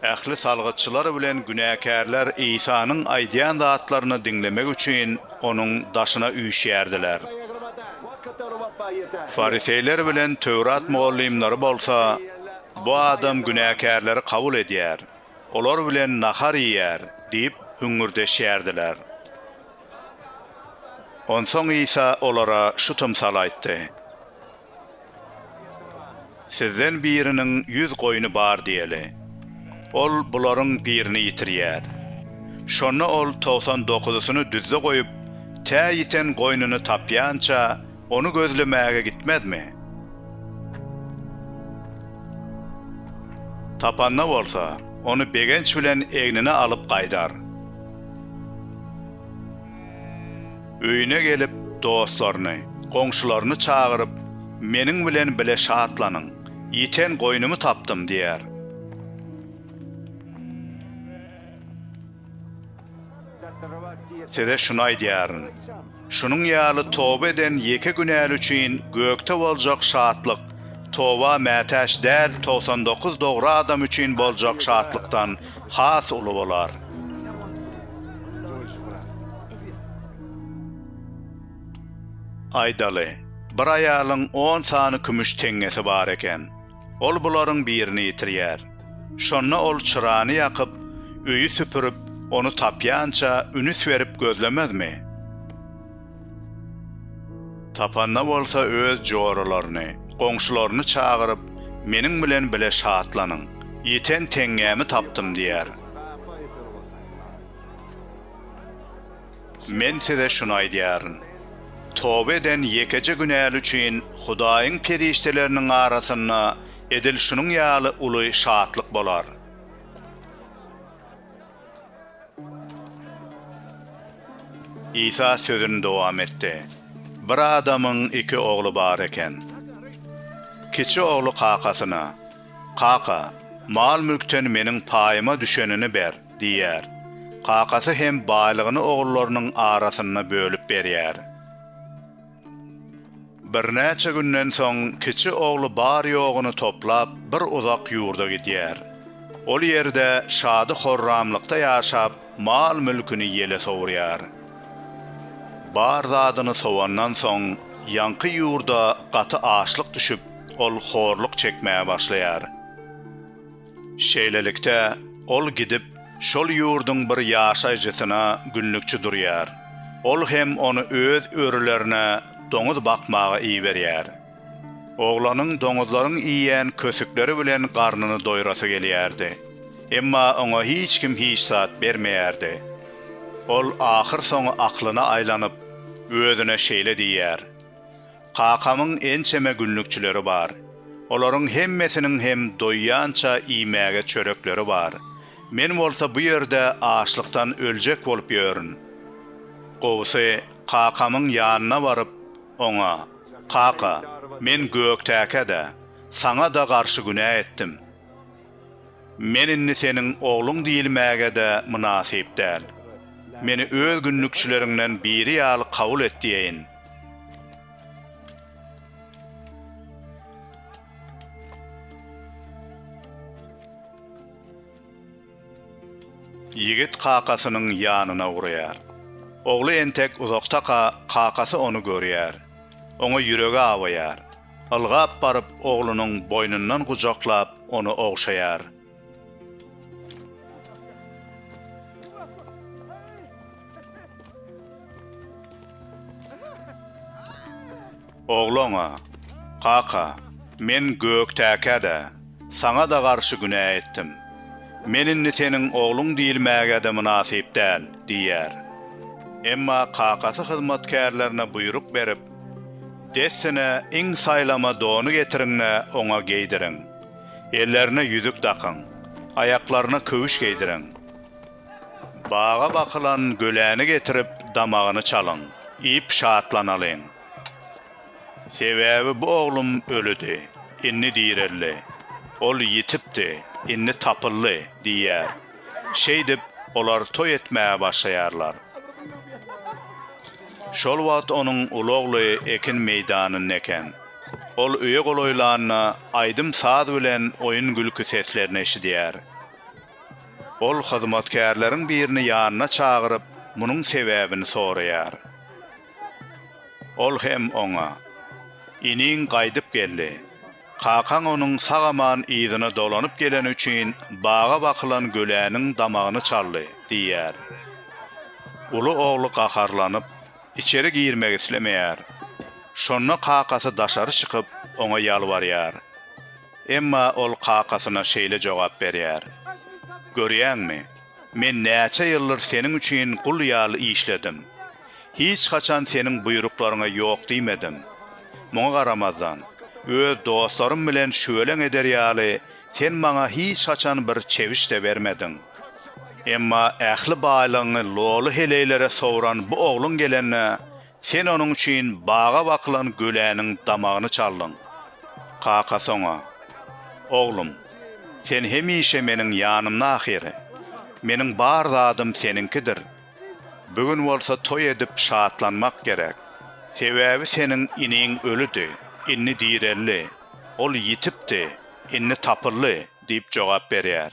Ähli salgytçylar bilen günäkärler Isanyň aýdýan zatlaryny diňlemek üçin onuň daşyna üýşýärdiler. Fariseýler bilen Töwrat mugallymlary bolsa, Bu adam günäkärleri kabul edýär, olar bilen nahar iýýär diýip hüňňürdeşýärdiler. Onsoň Isa olara şu tymsaly aýtdy, Sizden biriniň ýüz goýny bar diýeli. Ol bularyň birini ýitirýär. Şonda ol togsan dokuzysyny düzde goýup, tä ýiten goýnuny tapýança, Ony gözlemäge gitmezmi? Tapanda bolsa, ony begenç bilen egnine alyp gaýdar. Öýüne gelip, dostlaryny, goňşularyny çagyryp, Meniň bilen bile şatlanyň, ýiten goýnumy tapdym! diýer. Size şuny aýdýaryn, şunuň ýaly toba eden ýeke günäli üçin gökde boljak şatlyk toba mätäç däl togsan dokuz dogry adam üçin boljak şatlykdan has uly bolar. Aýdaly, bir aýalyň on sany kümüş teňňesi bar eken. Ol bularyň birini ýitirýär. Şonda ol çyrany ýakyp, öýi süpürip, ony tapýança ünüs berip gözlemezmi? Tapanda bolsa öz joralaryny, goňşularyny çagyryp, Meniň bilen bile şatlanyň! Ýiten teňňämi tapdym! diýer. Men size şuny aýdýaryn, toba eden ýekeje günäli üçin Hudaýyň perişdeleriniň arasynda edil şunuň ýaly uly şatlyk bolar. Isa sözüni dowam etdi. Bir adamyň iki ogly bar eken. Kiçi ogly kakasyna, Kaka, mal-mülkden meniň paýyma düşenini ber. Diýýär. Kakasy hem baýlygyny ogullarynyň arasynda bölüp berýär. Birnäçe günden soň kiçi ogly bar-ýoguny toplap bir uzak ýurda gidýär. Ol ýerde şady-horramlykda ýaşap, mal-mülküni ýele sowurýar. Bar zadyny sowandan soň, ýaňky ýurda gaty açlyk düşüp, ol horluk çekmäge başlaýar. Şeýlelikde, ol gidip, şol ýurduň bir ýaşaýjysyna günlükçi durýar. Ol hem ony öz örülerine doňuz bakmaga iberýär. Oglanyň doňuzlaryň iýen kösükleri bilen garnyny doýrasy gelýärdi. Emma oňa hiç kim hiç zat bermeýärdi. Ol ahyrsoňy aklyna aýlanyp, özüne şeýle diýýär. Kakamyň ençeme günlükçileri bar. Olaryň hemmesiniň hem doýýança iýmäge çörekleri bar. Men bolsa bu ýerde açlykdan öljek bolup ýörün. Gowusy, kakamyň ýanyna baryp, oňa, Kaka, men gökdäkä-de, saňa-da garşy günä etdim. Men indi seniň ogluň diýilmäge-de mynasyp däl. Meni öz günlükçileriňden biri ýaly kabul et diýeýin. Ýigit kakasynyň ýanyna ugraýar. Ogly entek uzakdaka kakasy ony görýär. Oňa ýüregi awaýar. Ylgap baryp oglunyň boýnundan gujaklap ony ogşaýar. Ogly oňa, Kaka, men gökdäkä-dä. Saňa-da garşy günä etdim. Men indi seniň ogluň diýilmäge-de mynasyp däl, diýýär. Emma kakasy hyzmatkärlerine buýruk berip, Dessine iň saýlama dony getiriň-de, oňa geýdiriň. Ellerine ýüzük dakyň, aýaklaryna köwüş geýdiriň. Baga bakylan göläni getirip, damagyny çalyň, iýip şatlanalyň. Sebäbi bu oglum ölüdi, indi direldi, ol ýitipdi, indi tapyldy diýýär. Şeýdip, olar toý etmäge başlaýarlar. Şol wagt onuň uly ogly ekin meýdanynda eken. Ol öýe golaýlanda, aýdym-saz bilen oýun-gülki seslerini eşidýär. Ol hyzmatkärleriň birini ýanyna çagyryp, munuň sebäbini soraýar. Ol hem oňa, Iniň gaýdyp geldi. Kakaň onuň sag-aman yzyna dolanyp geleni üçin baga bakylan göläniň damagyny çaldy diýýär. Uly ogly gaharlanyp, içeri girmek islemeýär. Şonda kakasy daşary çykyp, oňa ýalbarýar. Emma ol kakasyna şeýle jogap berýär, Görýäňmi? Men näçe ýyldyr Seniň üçin gul ýaly işledim. Hiç haçan Seniň buýruklaryňa ýok diýmedim. Muňa garamazdan, öz dostlarym bilen şüweleň eder ýaly Sen maňa hiç haçan bir çewiş-de bermediň. Emma ähli baýlygyňy loly heleýlere sowran bu ogluň gelende, Sen onuň üçin baga bakylan göläniň damagyny çaldyň. Kakasy oňa, Oglum, sen hemişe meniň ýanymda ahyry. Meniň bar zadym seniňkidir. Bu gün bolsa toý edip şatlanmak gerek. Sebäbi seniň iniň ölüdi, indi direldi, ol ýitipdi, indi tapyldy diýip jogap berýär.